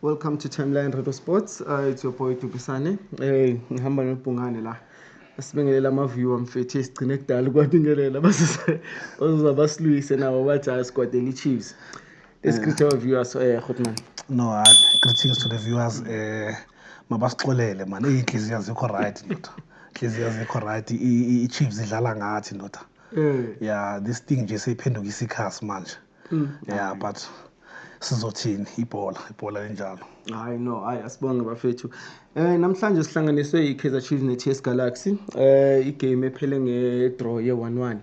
Welcome to Timeline Radio Sports. Uh, it's your boy Dubisane. Eh ngihamba nobhungane la. Sibingelela ama viewer mfethu esigcine kudala ukwabingelela basise ozoza basilwise nabo bajaha squad eli Chiefs. Let's greet our viewers eh Khotman. No, uh, greetings to the viewers. Eh mabasixolele man. Inhliziyo azikho right ndoda. Inhliziyo azikho right. I-Chiefs idlala ngathi ndoda. Eh. Yeah, this thing nje seyiphenduka isikhasi manje. mm. yeah but sizothini ibhola ibhola linjalo hayi no hayi asibonge bafethu eh namhlanje sihlanganiswe iKaizer Chiefs neTS Galaxy eh igame ephele ngedraw ye-1-1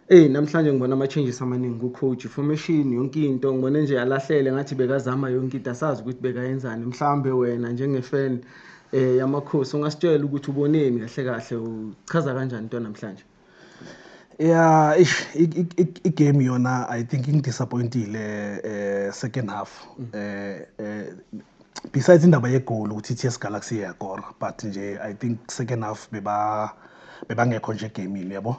Ey namhlanje ngibona ama changes amaningi ku coach formation yonke into ngibona nje alahlele ngathi bekazama yonke into asazi ukuthi bekayenzani mhlambe wena njenge fan eh yamakhosi ungasitshela ukuthi uboneni kahle kahle uchaza kanjani into namhlanje Yeah, ish, i-game yona I think ingidisappointile eh second half. Mm. Eh eh besides indaba yegoli ukuthi iTS Galaxy iyakora but nje I think second half beba bebangekho nje egamini yabo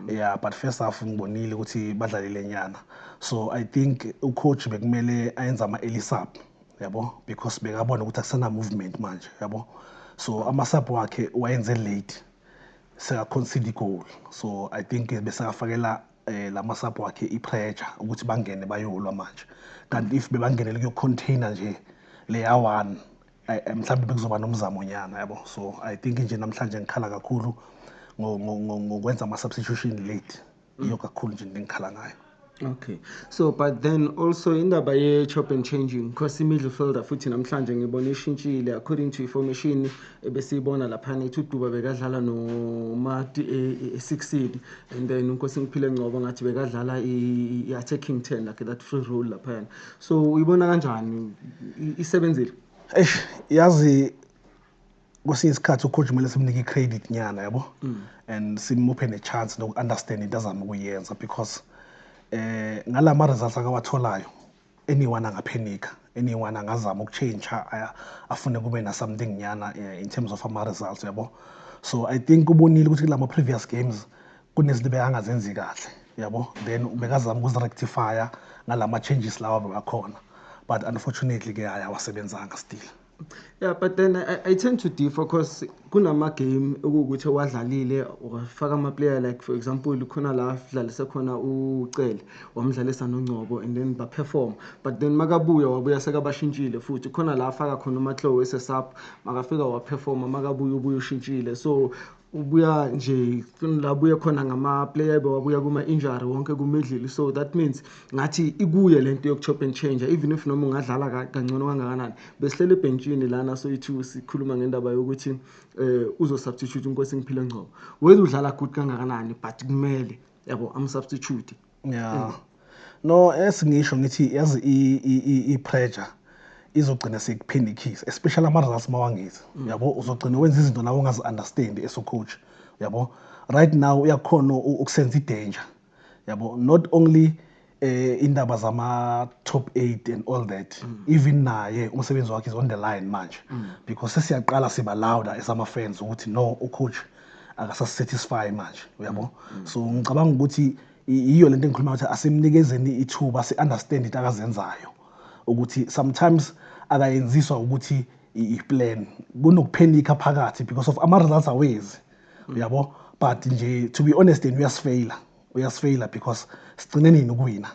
yeah but first half ngibonile ukuthi badlalile nyana so i think ucoach bekumele ayenze ama-early sub yabo because bekabona ukuthi akusena-movement manje yabo so ama-sub wakhe wayenze late sekaconcede igoal so i think eh, besakafakela um eh, la masapho wakhe i-pressure ukuthi bangene bayolwa manje kanti if bebangenele kuyocontainer nje leya one eh, mhlawumbe bekuzoba nomzamo nyana yabo so i think nje namhlanje ngikhala kakhulu ngokwenza ama-substitution late iyo kakhulu nje into engikhala ngayo okay so but then also indaba ye-chop and changing because i-midfielder futhi namhlanje ngibona ishintshile according to information ebesiyibona laphana ithi uduba bekadlala nomati e-sixid e, e and then unkosi ngiphile ngcobo ngathi bekadlala i-attacking ten like that free role laphayana so uyibona kanjani isebenzile eish yazi kwesinye isikhathi ucoach kumele simnike i-credit nyana yabo mm. and simuphe ne-chance noku-understand into azama ukuyenza because eh ngala ma-results akawatholayo anyone angaphenika anyone angazama ukutshintsha afune kube na-something nyana eh, in terms of ama-results yabo so i think ubonile ukuthi kula ma-previous games kunezinto bekangazenzi kahle yabo then bekazama ukuzirectifya ngala ma-changes lawa bebakhona but unfortunately ke hayi awasebenzanga still Yeah, but then I, I tend to differ because kunama game okuwukuthi owadlalile wafaka ama player like for example khona la dlalise khona uCele wamdlalisa noNgcobo and then ba perform but then makabuya wabuya sekabashintshile futhi khona la afaka khona uMatlowe esesap makafika wa perform makabuya ubuya ushintshile so ubuya nje la buye khona ngama-player bewabuya kuma-injury wonke kumidlili so that means ngathi ikuye le nto yoku-chop and change even if noma ungadlala kangcono kangakanani besihlele ebhentshini lana soyithu sikhuluma ngendaba yokuthi um eh, uzosubstitute unkosi ngiphile ngcobo whether udlala good kangakanani but kumele yabo amsubstitute yeah mm. no esingisho ngithi yazi i pressure izogcina sekuphinde ikhisi especially ama results mawangithi mm. yabo uzogcina wenza izinto nawe ungazi understand eso coach yabo right now uyakhona ukusenza idanger yabo not only eh indaba zama top 8 and all that mm. even naye umsebenzi wakhe is on the line manje mm. because sesiyaqala siba louder as ama fans ukuthi no u coach akasasisatisfy manje uyabo mm. so ngicabanga ukuthi yiyo lento engikhuluma ukuthi asimnikezeni ithuba si understand into akazenzayo ukuthi sometimes akayenziswa ukuthi i-plan kunokuphenikha phakathi because of ama results awezi mm. uyabo but nje to be honest and uyasifeyila uyasifeyila because sigcine nini ukuwina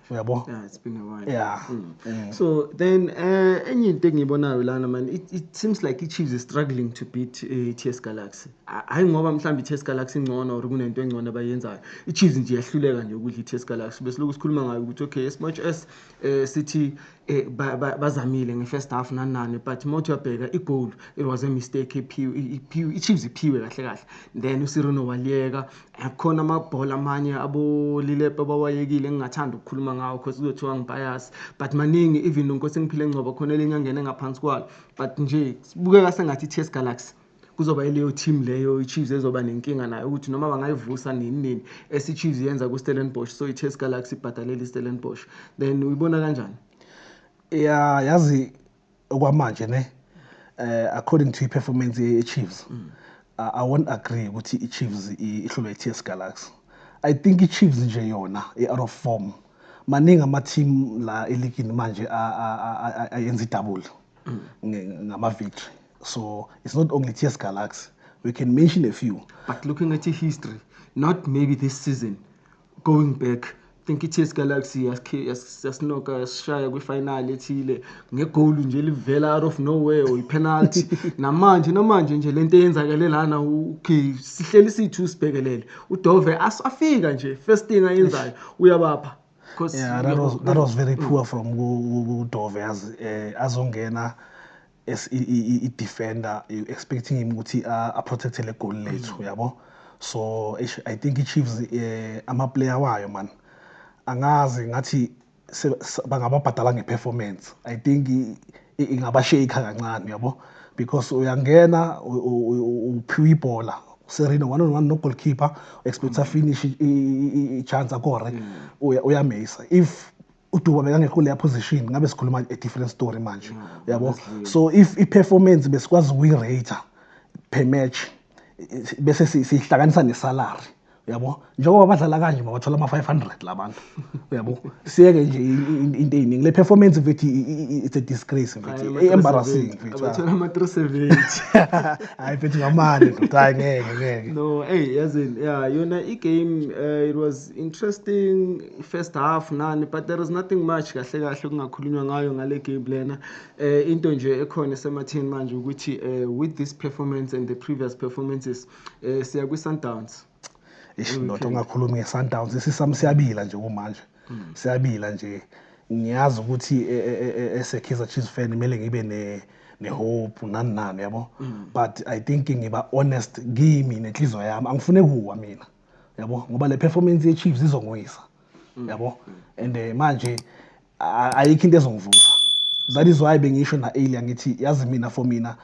uyabo yeah it's been a while yeah mm. Mm. so then eh uh, enye into engiyibonayo lana man it, it seems like iChiefs is struggling to beat uh, eh, TS Galaxy hayi ngoba mhlawumbe iTS Galaxy ingcono or kunento engcono abayenzayo iChiefs nje yahluleka nje ukudla iTS Galaxy bese lokhu sikhuluma ngayo ukuthi okay as much as eh uh, sithi eh, bazamile nge-first half nanani but uma uthi uyabheka igoal it was a mistake i-chiefs iphiwe kahle kahle then usirino waliyeka akukhona amabhola amanye abolilepe abawayekile engingathanda ukukhuluma ngawo because kuzothiwa ngibayasi but maningi even nonkosi engiphile ngcoba khona elinye angene ngaphansi kwalo but nje sibukeka sengathi i-ts galaxy kuzoba ileyo team leyo iChiefs ezoba nenkinga nayo ukuthi noma bangayivusa nini nini esiChiefs yenza kuStellenbosch so iChase Galaxy ibhadalela iStellenbosch then uyibona kanjani ya yazi okwamanje ne eh according to iperformance yeChiefs mm. uh, I won't agree ukuthi iChiefs ihlulwe iTS Galaxy I think iChiefs nje yona i-out of form maningi ama-team la eligini manje ayenza idouble ngama-victory So it's not only TS Galaxy. We can mention a few. But looking at history, not maybe this season, going back, think i-TS Galaxy yasinoka yasishaya kwifinal ethile ngegoli nje livela out of nowhere or ipenalty namanje namanje nje lento eyenzakele lana okay sihleli sithu sibhekelele udove afika nje first thing ayenzayo uyabapha yeah, that was, that was very poor from udove as eh, azongena as i-defender you expecting him ukuthi a-protecte le goal lethu mm. yabo so i think i-chiefs eh, amaplayer wayo man angazi ngathi bangababhadala nge-performance i think ingabasheyikha kancane yabo because uyangena uphiwa ibhola serina one on one no-goalkeeper expecta mm. finish i-chance akore mm. uyameyisa if uduba bekangekho leya position ngabe sikhuluma a different story manje mm, uyabo so if i-performance besikwazi ukuyi-rater per match bese siyihlanganisa nesalary uyabo njengoba badlala kanje mabathola ama-500 la bantu uyabo siyeke nje into eyiningi le performance mfethi it's a disgrace mfethi e-embarrassing mfethibathola ama-three seventy hhayi mfethi ngamane mfethi hhayi ngeke ngeke no eyi yazini ya yona i-game um it was interesting first half nani but there is nothing much kahle kahle kungakhulunywa ngayo ngale game lena eh into nje ekhona esematheni manje ukuthi eh with this performance and the previous performances eh siya kwi Sundowns ishindoda ongakhulumi nge Sundowns isisam siyabila nje kumanje hmm. siyabila nje ngiyazi ukuthi eh, eh, eh, ese Kaizer Chiefs fan kumele ngibe ne nehope nani nani yabo hmm. but i think ngiba honest kimi nenhliziyo yami angifune kuwa mina yabo ngoba le performance ye Chiefs izongwisa mm. yabo and eh, manje ayikho into ezongivusa that is why bengisho na earlier ngithi yazi mina for mina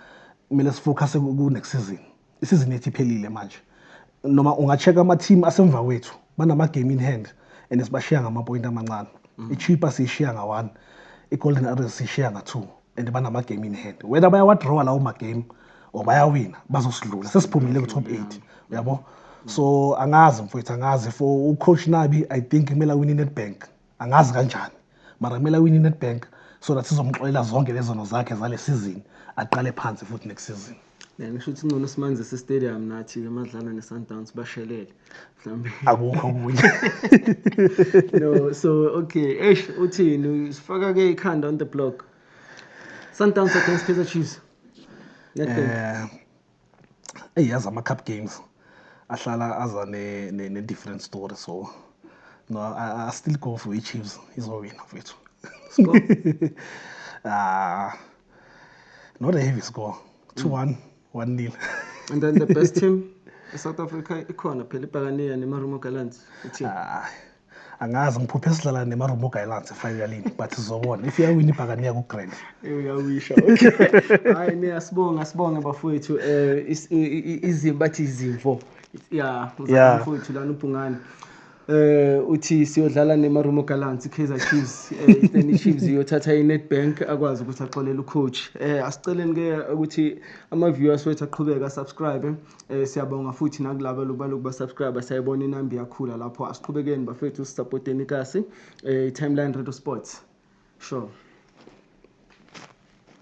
kumele sifocus ku next season isizini ethi phelile manje noma ungacheck ama team asemva kwethu banama game in hand and sibashiya ngama point amancane mm. iChipa siyishiya nga 1 iGolden Arrows siyishiya nga 2 and banama game in hand whether bayawa draw lawo ma game or bayawina bazosidlula sesiphumile ku top 8 uyabo so angazi mfowethu angazi for u coach Nabi i think kumele win in Nedbank angazi kanjani mara kumele win in Nedbank so that sizomxolela zonke lezono zakhe zale season aqale phansi futhi next season Eh, ngisho ukuthi ngcono simanzise stadium nathi-ke madlala ne-sundowns bashelele mhlawumbe akukho okunye no so okay eish uthini usifaka-ke ikhanda on the block sundowns against kaizer chiefs eh, eyi yazi ama-cup games ahlala aza ne-different story so no I, I still go for i-chiefs izowina mfethu ah not a heavy score 2-1 mm. 1-0 and then the best team eSouth Africa ikhona phela ibhakaniya nemarumo gallants ithi angazi ngiphuphe sidlala nemarumo gallants efinalini but sizobona if iyawina ibhakaniya kugrand uyawisha hayi ne asibonga asibonge bafowethu eh izimba bathi izimvo ya mfowethu lana ubhungane eh uthi siyodlala neMarumo Gallants iKaizer Chiefs eh then iChiefs iyothatha iNetbank akwazi ukuthi axolele ucoach eh asiceleni ke ukuthi ama viewers wethu aqhubeka subscribe eh siyabonga futhi nakulabo lokubaloko ba subscribe sayibona inamba iyakhula lapho asiqhubekeni bafethu sisupporteni kasi eh timeline radio sports sure